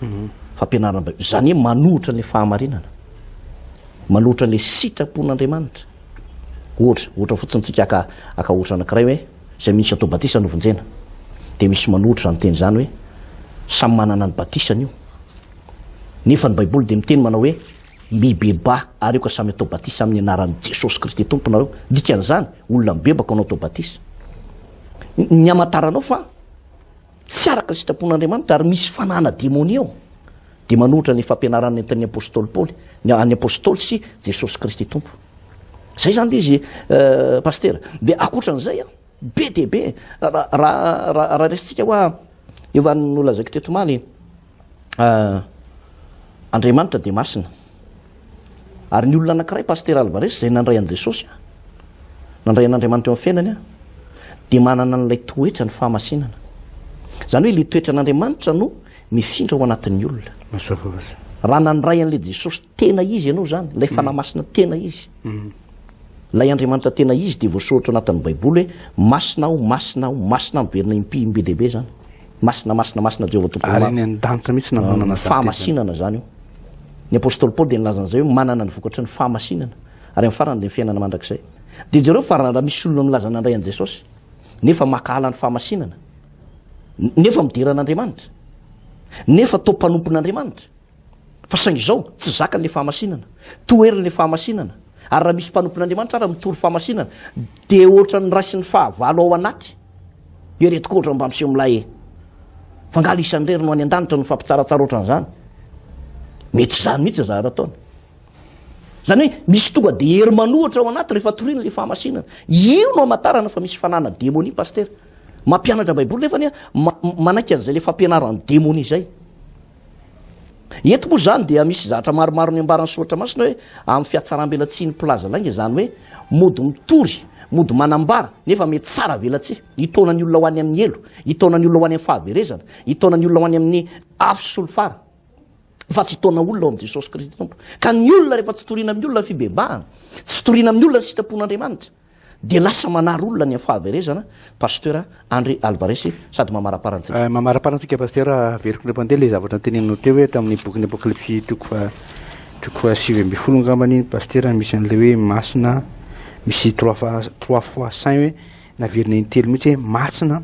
mhm. fampianarana Baiboly. Izany hoe manohitra ny fahamarinana, manohitra ny sitrapon'Andriamanitra. Ohatra, ohatra fotsiny tsika aka aka ohatra anankiray hoe izay misy atao batisa no vonjena. Dia misy manohitra izany teny izany hoe samy manana ny batisany io. Nefa ny Baiboly dia miteny manao hoe mibeba ary eo ka samy atao batisa amin'ny anaran'i Jesosy Kristy tomponareo. Dikan'izany, olona mibebaka anao atao batisa. Ny hamantaranao fa tsy araka ny sitrapon'Andriamanitra ary misy fanahana demonia ao, dia manohitra ny fampianarana nentin'ny apostoly Paoly, ny an'ny apostoly sy Jesosy Kristy Tompo. Zay zany le izy euh, pasteur. Dia ankoatran'izay a, be dia be raha raha raha resintsika hoa eo an'ny nolazaiko teto omaly Andriamanitra dia masina. Ary ny olona anankiray Pasitera Alvarez izay nandray an'i Jesosy, nandray an'Andriamanitra eo amin'ny fiainany, dia manana an'ilay toetra ny fahamasinana. Izany hoe ilay toetra an'Andriamanitra no mifindra ao anatin'ny olona. Raha nandray an'ilay Jesosy tena izy ianao izany, ilay fanahy masina tena izy, Ilay Andriamanitra tena izy dia voasoratra ao anatin'ny Baiboly hoe Masina aho, Masina aho, Masina aho, miverina impy be dia be izany. Masina, Masina, Masina Jehovah Tompon'ny maro. Ary eny an-danitra mihitsy nananana izany tezana. Fahamasinana izany io. Ny apostoly Paoly dia nilaza an'izay hoe manana ny vokatry ny fahamasinana, ary amin'ny farany dia ny fiainana mandrakizay. Dia jereo fa raha misy olona milaza nandray an'i Jesosy, nefa mankahala ny fahamasinana, nefa midera an'Andriamanitra, nefa toa mpanompon'Andriamanitra, Fa saingy izao, tsy zakany ilay fahamasinana. Toheriny ilay fahamasinana. Ary raha misy mpanompon'Andriamanitra ary mitory fahamasinana, dia ohatran'ny raisin'ny fahavalo ao anaty. Ireto koa ohatran'ny mba miseho milay e. Fa angaha ilay isan'irery no any an-danitra no mifampitsaratsara ohatran'izany? Mety izany mihitsy ny zavatra ataony. Izany hoe misy tonga dia hery manohitra ao anaty rehefa toriana ilay fahamasinana. Io no hamantarana fa misy fananana demonia, Pasitera. Mampianatra Baiboly nefa anie, manaiky an'izay ilay fampianaran'ny demonia izay. Eto moa izany dia misy zavatra maromaro niambaran'ny soratra masina hoe amin'ny fihatsarambelatsihin'ny mpilaza lainga izany hoe mody mitory, mody manambara nefa mety tsara velatsihy, hitaona ny olona ho any amin'ny helo, hitaona ny olona ho any amin'ny fahaverezana, hitaona ny olona ho any amin'ny afo sy ny fara fa tsy hitaona olona ao amin'i Jesosy Kristy Tompo. Ka ny olona rehefa tsy toriana amin'ny olona ny fibebahana, tsy toriana amin'ny olona ny sitrapon'Andriamanitra, Dia lasa manary olona ny fahaverezana Pasteur Andry Alvarez sady mamarapara antsika. Eh, mamarapara antsika Pasteur, averiko indray mandeha ilay zavatra noteneninao teo hoe tamin'ny bokin'ny Apokalypsy toko fa toko fa sivy ambin'ny folo angambany iny Pasteur misy an'ilay hoe masina misy trois fois trois fois saint hoe naverina intelo mihitsy hoe masina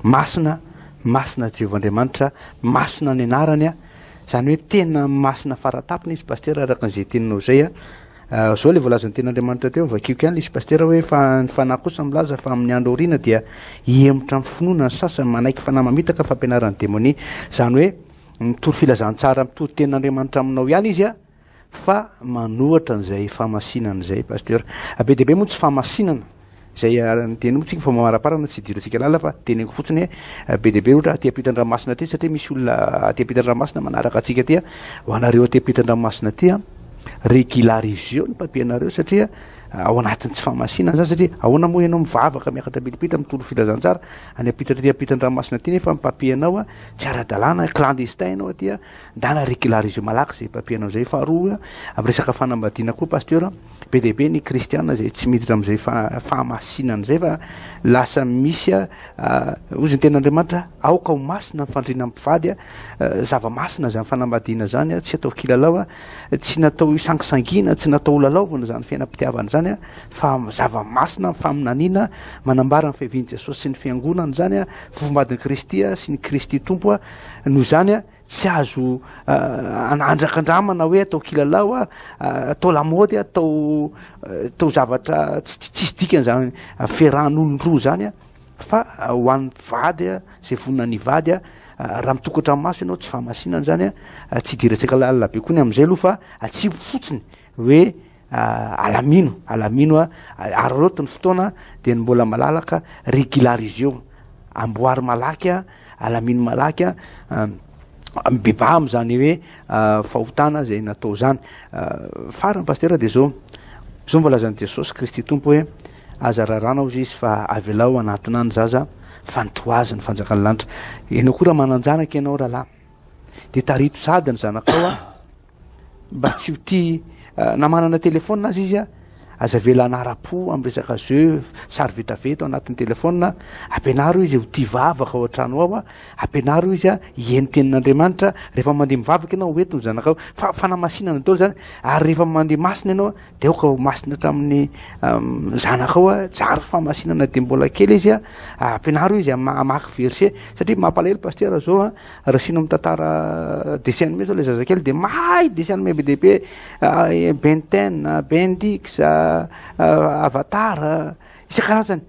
masina masina Jehovah Andriamanitra masina ny anarany a izany hoe tena masina faratapony izy Pasteur araka an'izay teninao izay a Izao ilay voalazan'ny Tenin'Andriamanitra teo, vakiako ihany ilay izy Pasitera hoe, fa ny Fanahy kosa milaza fa amin'ny andro aoriana dia hihemotra amin'ny finoana ny sasany, manaiky fanahy mamitaka fampianaran'ny demonia. Izany hoe mitory filazantsara mitory Tenin'Andriamanitra aminao ihany izy fa manohatra an'izay famasinana izay Pasitera. Be dia be moa ny tsy famasinana. Izay andiany moa tsika fa mamaraparana tsy idirantsika lalina fa teneniko fotsiny hoe be dia be ohatra aty ampitan-dranomasina aty satria misy olona aty ampitan-dranomasina manaraka antsika aty ho anareo aty ampitan-dranomasina aty a regulariseo ny papier-nareo satria ao anatin'ny tsy famasinana zany satria ahoana moa ianao mivavaka miakatra milipita mitolo filazantsara any ampitatra aty ampitan-dranomasina aty nefa ny papier-nao a tsy ara-dalàna clandestin ianao aty a ndana regulariseo malaky izay papier-nao izay faharoa amin'ny resaka fanambadiana koa pasteur Be dia be ny kristiana izay tsy miditra amin'izay fahamasinana izay fa lasa misy a hoy izy ny ten'Andriamanitra aoka ho masina ny fandriana mpivady a zava-masina izany fanambadiana izany a tsy atao kilalao a tsy natao hisangisangiana tsy natao holalaovina izany fiainam-pitiavana izany a fa zava-masina ny faminaniana manambara ny fiavian'i Jesosy sy ny fiangonana izany a fofombadin'i Kristy a sy ny Kristy tompo a noho izany a Tsy azo andrakandramana hoe atao kilalao, atao lamaody, atao atao zavatra tsisy dikany zany ferahan'olon-droa zany fa ho an'ny mpivady a, izay vonona ny hivady a, raha mitokatra amin'ny maso ianao tsy fahamasinana zany a, tsy idirantsika lalina be koa ny amin'izay aloha fa atsipy fotsiny hoe Ah, alamino, alamino a, ah, ary roto ny fotoana dia ny mbola malalaka regulariseo, amboary malaky a, alamino malaky a, ah, mibebaha amin'izany hoe ah, fahotana izay natao izany. Ah, Farany pastera dia izao, izao no voalazan'i Jesosy Kristy Tompo hoe aza rarana hozy izy fa avelao hanatona ny zaza fa ny toazy ny fanjakan'ny lanitra. Ianao koa raha manan-janaka ianao rahalahy dia tarito sady ny zanakao a, mba tsy ho tia na manana telefona azy izy a aza vela anara-po amin'ny resaka jeu sary vetaveta ao anatin'ny telefona ampianaro izy ho tia vavaka ao an-trano ao a ampianaro izy a hihaino tenin'andriamanitra rehefa mandeha mivavaka ianao hoentiny ny zanakao fa fanamasinana daholo zany ary rehefa mandeha masina ianao de aoka ho masina hatramin'ny um, zanakao a jary famasinana de mbola kely izy a ampianaro izy hamaky verset satria mampalahelo pastera zao a Raisina mitantara dessin animé zao le zazakely de mahay dessin animé be dia be Ben ten, Ben dix, Avatar, isan-karazany,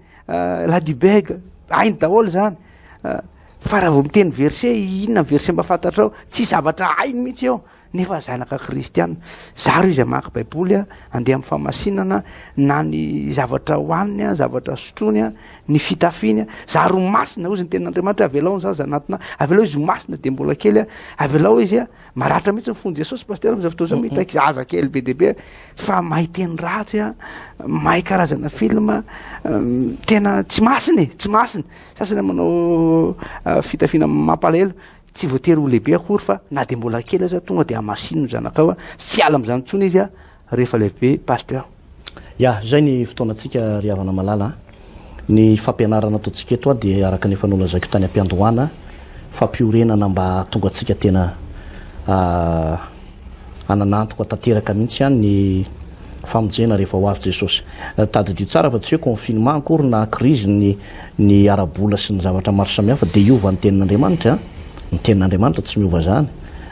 Ladybug, hainy daholo zany fa raha vao miteny verset inona ny verset mba fantatrao, tsy zavatra hainy mihitsy eo. Nefa zanaka kristiana. Zaro izy hamaky Baiboly, handeha amin'ny famasinana, na ny zavatra hohaniny, zavatra sotroiny, ny fitafiany. Zaro ho masina, hoy izy ny tenin'Andriamanitra, avelao ny zaza anatina, avelao izy ho masina dia mbola kely, avelao izy. Maratra mihitsy ny fon'i Jesosy, pasteur, amin'izao fotoana izao, mitaky zaza kely be dia be, fa mahay teny ratsy, mahay karazana film, tena tsy masina e, tsy masina. Sasany manao fitafiana mampalahelo. Tsy voatery ho lehibe akory fa na dia mbola kely aza tonga dia hamasino ny zanakao a! Tsy hiala amin'izany intsony izy a! rehefa lehibe Pasteur. Ya, izay ny fotoanantsika ry havana malala a! Ny fampianarana ataontsika eto a dia araka ny efa nolazaiko tany am-piandohana, fampiorenana mba hahatonga antsika tena a! hananantoka tanteraka mihitsy ihany ny famonjena rehefa ho avy Jesosy. Tadidio tsara fa tsy hoe confinement akory na crise ny ny ara-bola sy ny zavatra maro samihafa dia hiova ny tenin'Andriamanitra. Ny tenin'Andriamanitra tsy miova izany.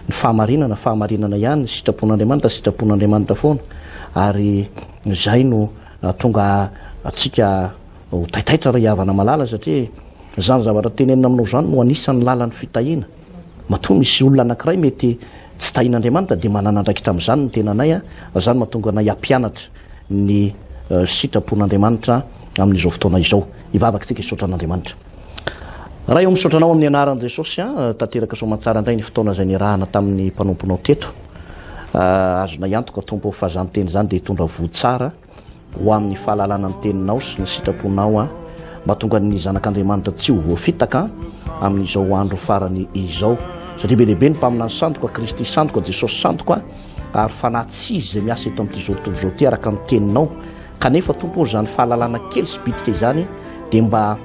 Ny fahamarinana fahamarinana ihany, ny sitrapon'Andriamanitra sitrapon'Andriamanitra foana ary izay no hahatonga antsika ho taitaitra ry havana malala satria izany zavatra tenenina aminao izany no anisan'ny lalan'ny fitahiana. Matoa misy olona anankiray mety tsy tahin'Andriamanitra dia manana andraikitra amin'izany ny tenanay, izany mahatonga anay hampianatra ny sitrapon'Andriamanitra amin'izao fotoana izao. Hivavaka isika hisaotra an'Andriamanitra. Ray ô misaotra Anao amin'ny anaran'i Jesosy an, tanteraka soamantsara indray ny fotoana izay niarahana tamin'ny mpanomponao teto. Azonay antoka Tompo fa izany teny izany dia hitondra voa tsara. ho amin'ny fahalalana ny teninao sy ny sitraponao aho, mba tonga ny zanak'Andriamanitra tsy ho voafitaka amin'izao andro farany izao. Satria be dia be ny mpaminany santo ka Kristy santo ka Jesosy santo ka, ary fanahy tsy izy izay miasa eto amin'ity zao tontolo izao ity araka ny teninao, kanefa Tompo ô izany fahalalana kely sy bitika izany dia mba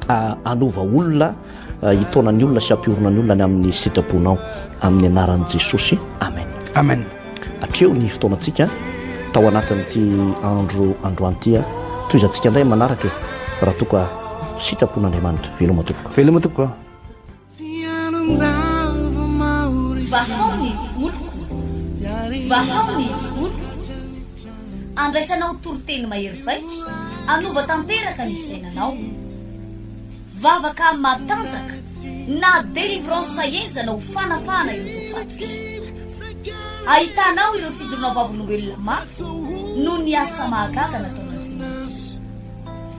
hanova olona, hitaona ny olona sy hampiorina ny olona ny amin'ny sitrabonao amin'ny anaran'i Jesosy. Amen. Amen. Atreho ny fotoanantsika tao anatin'ity andro androantia. Tohizantsika indray manaraka e, raha toa ka sitrapon'Andriamanitra. Veloma tompoko. Veloma tompoko. Vahao ny oloko, vahao ny oloko, andraisanao toriteny mahery vaika, anova tanteraka ny fiainanao. Vavaka matanjaka na délivrance henjana ho fanafahana ireo voafatotra. Ahitanao ireo fijoroana vavolombelona mafy noho ny asa mahagaga nataon'Andriamanitra.